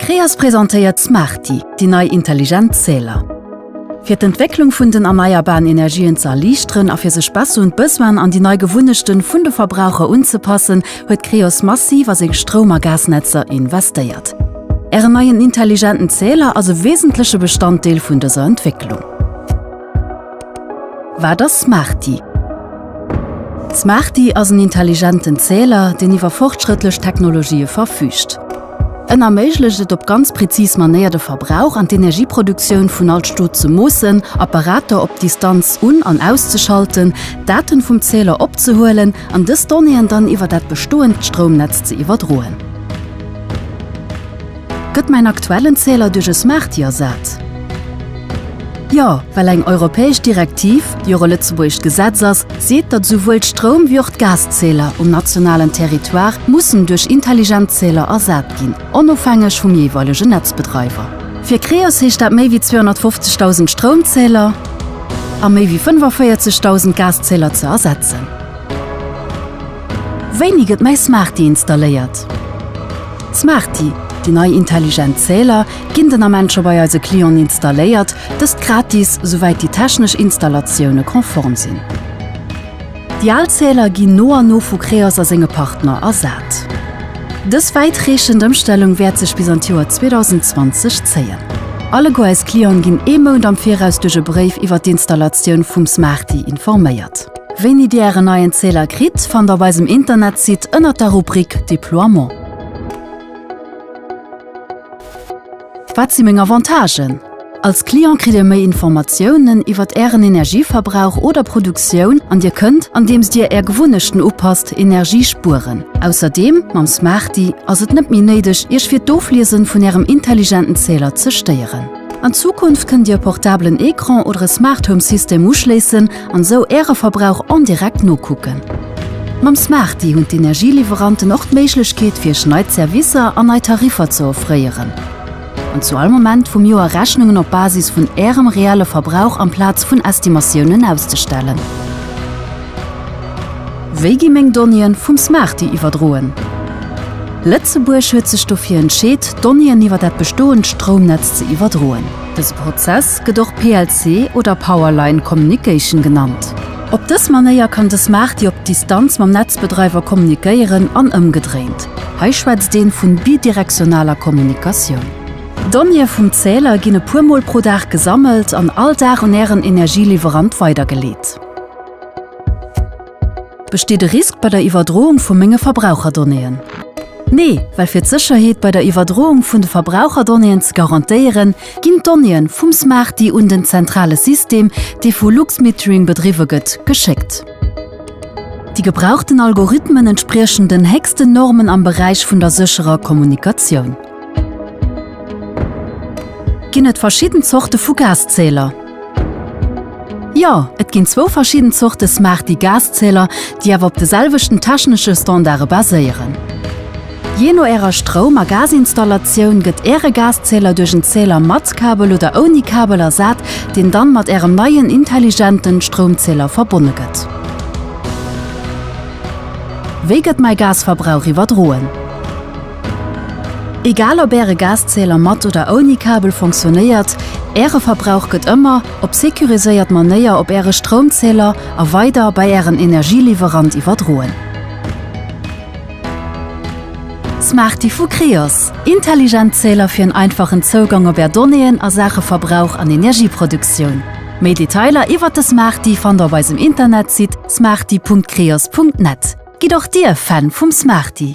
Creas presentéiert Smarty, déi nei intelligent Zähler. Fir d'Entwécklung vun den erneierbaren Energien ze erliichteren a fir sech besser un d'Besoinen an déi nei Gewunnechten vun de Verbraucher unzepassen, huet Creos massiv a seng Stroum a Gasnetzer investéiert. Ären neien intelligenten Zähler ass e wesentleche Bestanddeel vun dëser Entwécklung. Wat ass Smarty? D'Smarty ass en intelligenten Zähler, deen iwwer fortschrëttlech Technologië verfüügt. En erméiglecht et op ganz präzis Manéier de Verbrauch an d'Energieproduktioun vun all Stot ze moossen, Apparater op Distanz un an auszeschalten, Daten vum Zähler opzehuelen an dës Donnéeën dann iwwer dat bestoend Stroumnetz ze iwwerdroen. Gëtt mäin aktuellen Zähler duerch e Smarty ersat? Jo, well eng europäesch Direktiv, déi och e lëtzebuergescht Gesetz ass, seet, datt esouwuel d'Stroum wéi och d'Gaszähler um nationalen Territoire mussen duerch intelligent Zähler ersat ginn, onofhängeg vum jeeweilegen Netzbedreiwer. Fir Creos heescht dat méi wéi 250.000 Stroumzähler a méi wéi 45.000 Gaszähler ze ersetzen. Wéini gëtt mäi Smarty installéiert? D'Smarty, déi nei intelligent Zähler, ginn den Ament scho bei eise Clienten installéiert, dëst gratis, souwäit déi technesch Installatioune konform sinn. Déi al Zähler ginn no an no vu Creos a senge Partner ersat. Dës wäitreechend Ëmstellung wäert sech bis an d'Joer 2020 zéien. Alleguer eis Clienten ginn ee Mount am Viraus duerch e Bréif iwwer d'Installatioun vum Smarty informéiert. Wéini Dir Ären neien Zähler kritt, fannt der op eisem Internetsite ënnert der Rubrik Deploiement. Wat si meng Avantagen? Als Client kritt Dir méi Informatiounen iwwert Ären Energieverbrauch oder Produktioun an Dir kënnt, andeems Dir Är Gewunnechten upasst, Energie spueren. Ausserdeem, mam Smarty ass et net méi néideg, Iech fir d'Ofliesen vun Ärem intelligenten Zähler ze stéieren. An Zukunft kënnt Dir e portablen Ecran oder e Smart Home System uschléissen an esou Äre Verbrauch en direct nokucken. Mam Smarty hunn d'Energieliwweranten och d'Méiglechkeet fir Iech nei Zerwisser an nei Tariffer ze offréieren an zu all Moment vum Joer Rechnungen op Basis vun Ärem reelle Verbrauch amplaz vun Estimatiounen auszestellen. Wéi gi meng Donnéeën vum Smarty iwwerdroen? Lëtzebuerg huet sech dofir entscheet, Donnéeën iwwer dat bestoend Stroumnetz ze iwwerdroen. Dëse Prozess gëtt och PLC oder Power Line Communication genannt. Op dës Manéier kann de Smarty op Distanz mam Netzbedreiwer kommunikéieren an ëmgedréint. Hei schwätzt een vun bidirektionaler Kommunikatioun. D'Donnéeë vum Zähler ginn e puer Mol pro Dag gesammelt an all Dag un Ären Energieliwwerant weidergeleet. Besteet e Risk bei der Iwwerdroung vu menge Verbraucherdonnéeën? Nee, well fir d'Sécherheet bei der Iwwerdroung vun de Verbraucherdonnéeën ze garantéieren, ginn d'Donnéeën vum Smarty un den zentrale System, dee vu Luxmetering bedriwwe gëtt, geschéckt. Déi gebrauchten Algorithmen entspriechen den héchsten Normen am Beräich vun der sécherer Kommunikatioun. Ginn et verschidden Zorte vu Gaszähler? Jo, et ginn zwou verschidden Zorte Smarty Gaszähler, déi awer op de selwechten technesche Standarde baséieren. Jee no Ärer Stroum a Gazinstallatioun gëtt Äre Gaszähler duerch en Zähler mat Kabel oder ouni Kabel ersat, deen dann mat Ärem neien intelligenten Stroumzähler verbonne gëtt. Wéi gëtt mäi Gasverbrauch iwwerdroen? Egal op Äre Gaszähler mat oder ouni Kabel fonctionnéiert, Äre Verbrauch gëtt ëmmer op securiséiert Manéier op Äre Stroumzähler a weider bei Ären Energieliwwerant iwwerdroen. Smarty vu Creos, intelligent Zähler fir en einfachen Zougang op Är Donnéeën a Saache Verbrauch an Energieproduktioun. Méi Detailer iwwert de Smarty fannt Der op eisem Internetsite smarty.creos.net. Gitt och Dir Fan vum Smarty!